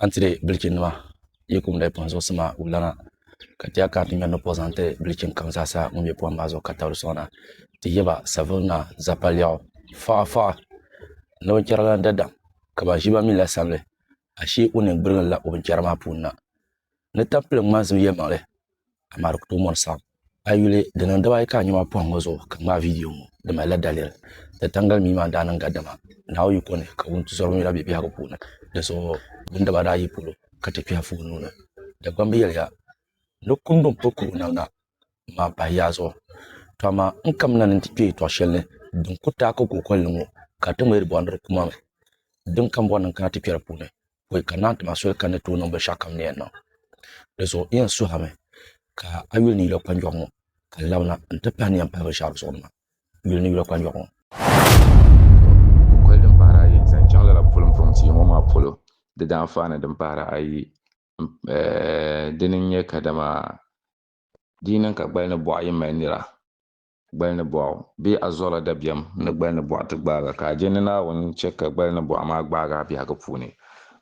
an tiri bilichi nima yi kum di pun zuɣusi maa wulana ka ti yɛli ka ti ŋmɛri ni pɔɣu zaŋ ti bilichi kam zaa sa ŋun bɛ pohim maa zuɣu ka tabili sɔŋ na ti yɛba Savona Zapaliɛɣu faɣa faɣa ni binchɛra la dadam ka ban ʒiba mi la sabigi ashee o nini gbirigila o binchɛra maa puuni na ni tampilim ŋmansim yɛlimaŋli amaa di ku tooi mɔri saɣim a yuli di niŋ dibaayi ka a nya maa pɔhim ŋɔ zuɣu ka ŋmaai viidiyo ŋɔ di malila daliri ni taŋgali mii maa n daa niŋ gadama naawuyiko ni ka wuntizɔriba ŋmɛra bɛ biɛhigu puuni di zuɣu din dabaa daa yi polo ka ti kpɛhi foon nuu ni Dagbamb yɛliya ni kum din pili kuru namda maa pahi yaa zuɣu tɔ amaa n kamina ni n ti kpe yɛtɔɣ shɛli ni din ku taai ka kookoli ni ŋɔ ka di ti ŋmahiri bɔhindiri kuma mi din kambɔri ni n kana ti kpɛri puuni ka o yɛli ka n naan ti ma soli ka ni tooi niŋ binshaɣu kam ni yɛn niŋ dizuɣu n yɛn suhurimi ka a yuli ni yula kpanjoɣu ŋɔ ka n labina n ti pahi ni yɛn pahi binshaɣu di zuɣu ni maa n yuli ni yula kpanjoɣu ŋɔ kukoli din pahiri ayi zaŋ chaŋ lala pulimbuŋ tia ŋɔ maa polo di daanfaani din pahiri ayi dini n-nyɛ kadama di yi niŋ ka gbali ni buɣa yi mali nira Gbali ni bɔɣu, bee a zuɣula dabiɛm ni gbali ni bɔɣu ti gbaaga, ka a je ni Naawuni n-chɛ ka gbali ni bɔɣu maa gbaag a biɛhigu puuni?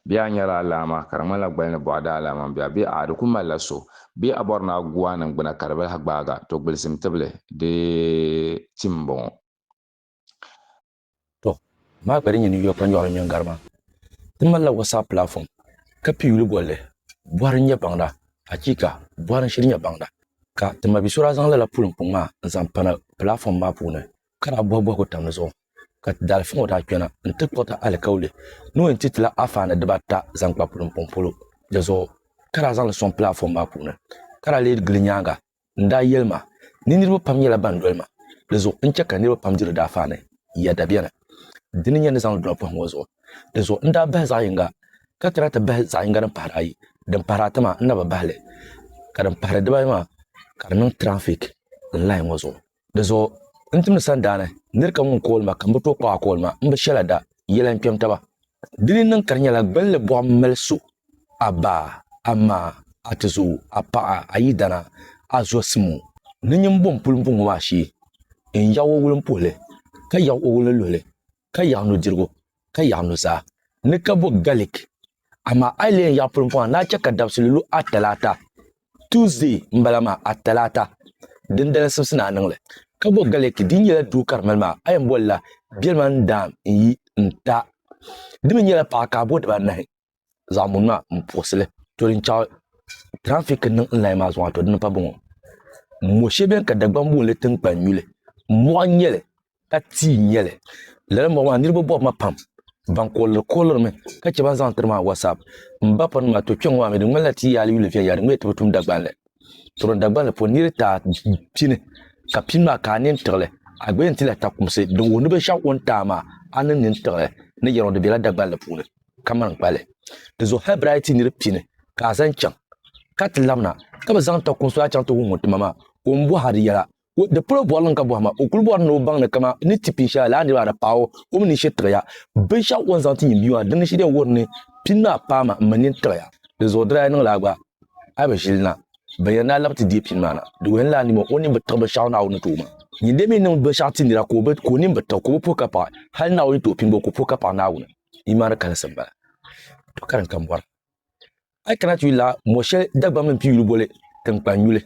Bee a nyɛla a laama, ka di ŋmanila gbali ni bɔɣu daa laama m-be a, bee a'a di ku malila so? Bee a bɔri ni a gu a niŋgbuna ka di bi lahi gbaag a? To gbilisim tibili, di tim m-bɔŋɔ. To, amaa ka di nyɛ ni Yɔpa nyɔɣili nyɔŋ gari maa, ti malila WhatsApp platform ka pii yuli bolli Bɔhiri n-nyɛ baŋda, achiika! Bɔhiri n-shiri nyɛ baŋda. Ka ti ma bi so daa zaŋ lala puli mpuŋ maa n-zaŋ pana platform maa puuni ka daa bɔhi bɔhigu tam di zuɣu ka ti daalifa ŋɔ daa kpɛna n-ti kpuɣi ti alikauli ni o yɛn ti ti la afaani diba ata zaŋ kpa puli mpuŋ polo di zuɣu ka daa zaŋ li sɔŋ platform maa puuni ka daa leei gili nyaaŋa N daa yɛli ma, Ni niriba pam nyɛla ban doli ma, di zuɣu n-chɛ ka niriba pam diri daafaa ni ya dabiɛ ni. Di ni nyɛ ni zaŋ doli pɔhim o zuɣu. Di zuɣu n daa bahi zaɣ yiŋga, ka kana ti bahi zaɣ yiŋga din pahiri ayi. Din pahiri ata maa, n na bi bahi li, ka din pahiri dibaayi maa, ka di niŋ trafik n lahi ŋɔ zuɣu. Di zuɣu n timdi sandaani nir kam ŋun kooli ma, ka m bi tooi kpag a kooli ma, m bi shɛla da yɛla n kpɛm taba. Di ni niŋ ka di nyɛla gbilli buɣim mali so, a ba, a ma, a tizo, a paɣa, a yidana, a zɔsim o ni nyin bo m puli bo ŋɔ maa shee, n yaɣ o wulimpuhili, ka yaɣ o wulinluhili, ka yaɣ nudirigu, ka yaɣ nuzaa, ni ka bo galik. Amaa a yi lee yaɣ pulimpuɣa n daa chɛ ka dabisili lu a talaata. Tuesday n bala maa a talaata din dali simsi ni a niŋli ka bo Galeki din nyɛla duu ka di mali maa a yɛn boli la biɛlima n daam n yi n ta di mi nyɛla paɣa ka a bo diba anahi zaɣa muni maa n puɣisi li to din chaɣi traffic n niŋ n layi maa zuɣu a to di ni pa boŋɔ mo shɛli bɛni ka Dagban boonli tinkpan nyuli mɔɣu n nyɛli ka tii n-nyɛ li. Lala mɔɣu maa niriba bɔbu ma pam ban kooliri koolirimi ka chɛ ban zaŋ tiri maa WhatsApp. M ba pɔri ni maa, to kpɛŋɔ maa mi di ŋmanila ti yaali yuli viɛnyɛla di mi ti bi tum Dagban li. Tɔro Dagban li puuni nir ti a pini ka pini maa ka a nini tiɣi li, a gba yɛn ti la takumsi din wuhi ni binshɛɣu o ni ti a maa, a ni nini tiɣi li ni yɛliŋɔ di bela Dagban li puuni ka mani kpa li. Di zuɣu hal birayi ti nir pini ka a zaŋ chaŋ ka ti labina ka bi zaŋ takumsi maa chaŋ ti wuhi ŋun ti ma maa ka o ni bɔhiri di yɛla Di polo bɔrili n-ka bɔhima, o kul bɔri ni o baŋ ni kama ni ti pin shɛla lala niriba ata paai o, o mi ni shiri tiɣi ya. Binshɛɣu o ni zaŋ ti nyin bia maa din ni shiri ya n-wuhiri ni pin maa paai ma m-mi nini tiɣi ya. Di zuɣu di daa niŋla a gba a bi ʒili na. Ban yɛn daa labi ti deei pin maa na, di wuhi ni lala nima o nini bi tiɣi binshɛɣu Naawuni ni ti o maa. Nyin deei mi n-niŋ binshɛɣu ti nira ka o nini bi tiɣi, ka o bi puhi ka paɣi hal Naawuni ni ti o pin gba, o ku puhi ka paɣi Naawuni. Imaani kalinsi m-bala. To ka din kam bɔra. A yi kana ti yuli la mɔ shɛli Dagbaŋ mini piyuli boli tiŋkpan yuli.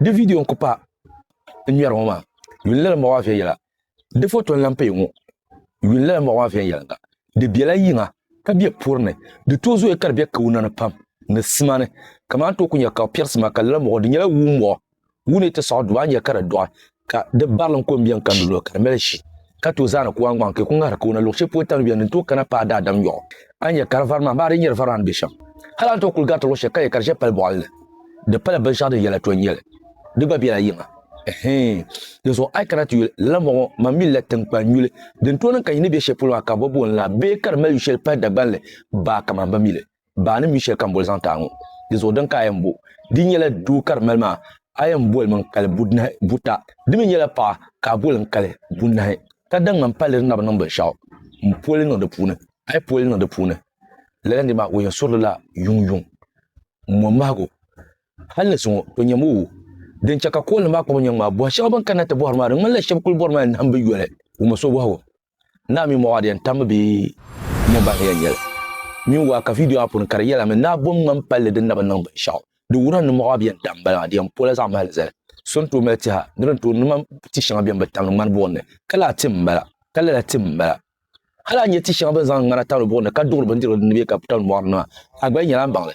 Di vidiyo n-ku pa n ŋmɛri ŋɔ maa. Yuli lala mɔɣu maa viɛnyɛla. Di foto n-lan paya ŋɔ. Yuli lala mɔɣu maa viɛnyɛliŋga. Di bela yiŋa ka be puri ni. Di tooi zooya ka di be kauna ni pam ni sima ni. Ka maa n-tooi ku nya ka o piɛri sima ka lala mɔɣu di nyɛla wuu mɔɣu. wuni ti saɣi duba nya ka di dɔɣi ka di barilim ko m-biɛŋ ka nulo ka di mali shi ka tooi zaani kuwaŋgbaŋ ka ku ŋahiri kawana luɣ shɛli polo tani biɛni din tooi kana paai daadam yɔɣu a ni nya ka di vari maa, amaa di nyɛla varina ni be shɛm. Hal a ni tooi kuli gariti luɣ shɛli ka nya ka di ʒe pali bɔɣili ni, di pala binshɛɣu din yɛla tɔn nyɛli. Di gba bela yiŋa. Ɛhɛin! Dinzuɣu a yi kana ti yuli lala mɔɣu ŋɔ, man mi lala tiŋkpan yuli din tooi niŋ ka nyin ni be shɛli polo maa ka bɛ booni la bee ka di mali yu shɛli pahi Dagbanli baa ka man bi mi li. baa ni mi shɛli ka n boli zaŋ ti a ŋɔ, di zuɣu din ka a yɛn bo. Di nyɛla doo ka di mali maa, a yɛn boli mi n-kali budnahi buta. Di mi nyɛla paɣa ka a boli n-kali bunahi. Ka da ŋmani palli di na bi niŋ binshɛɣu m-pooi li niŋ di puuni. A yi pooi li niŋ di puuni, lala nir maa o yɛn suri li la yuŋyuŋ mɔmahigu. Hal ni zuŋɔ o nyami o. Din chɛ ka koolnim maa kpuɣi nyɛŋ maa, bɔhi shɛba bɛn kanna ti bɔhiri maa di ŋmanila shɛba kul bɔrimi a ni nahimbiyoli wummisɔbɔhigu. Naa mini Mɔɣu Adiyan tambu bee ya ban ya nyɛli mini waa ka vidiyo maa puuni ka di yɛlimi Naa bom ŋmani palli din na bi niŋ binshɛɣu. Di wuhirila ni Mɔɣu Adiyan daa m-bala maa di yɛn pola zaɣ mahili zali. So ni tooi mali tiha ni di ni tooi niŋ maa ti shɛŋa beni bi tamdi ŋmani buɣim ni ka lala tim m-bala ka lala tim m-bala. Hali a ni nya ti shɛŋa bɛ ni zaŋdi ŋmana tamdi buɣim ni ka duɣiri bindirigu din ni bee ka tamdi mɔɣu ni maa a gba yi nyɛla m baŋ li.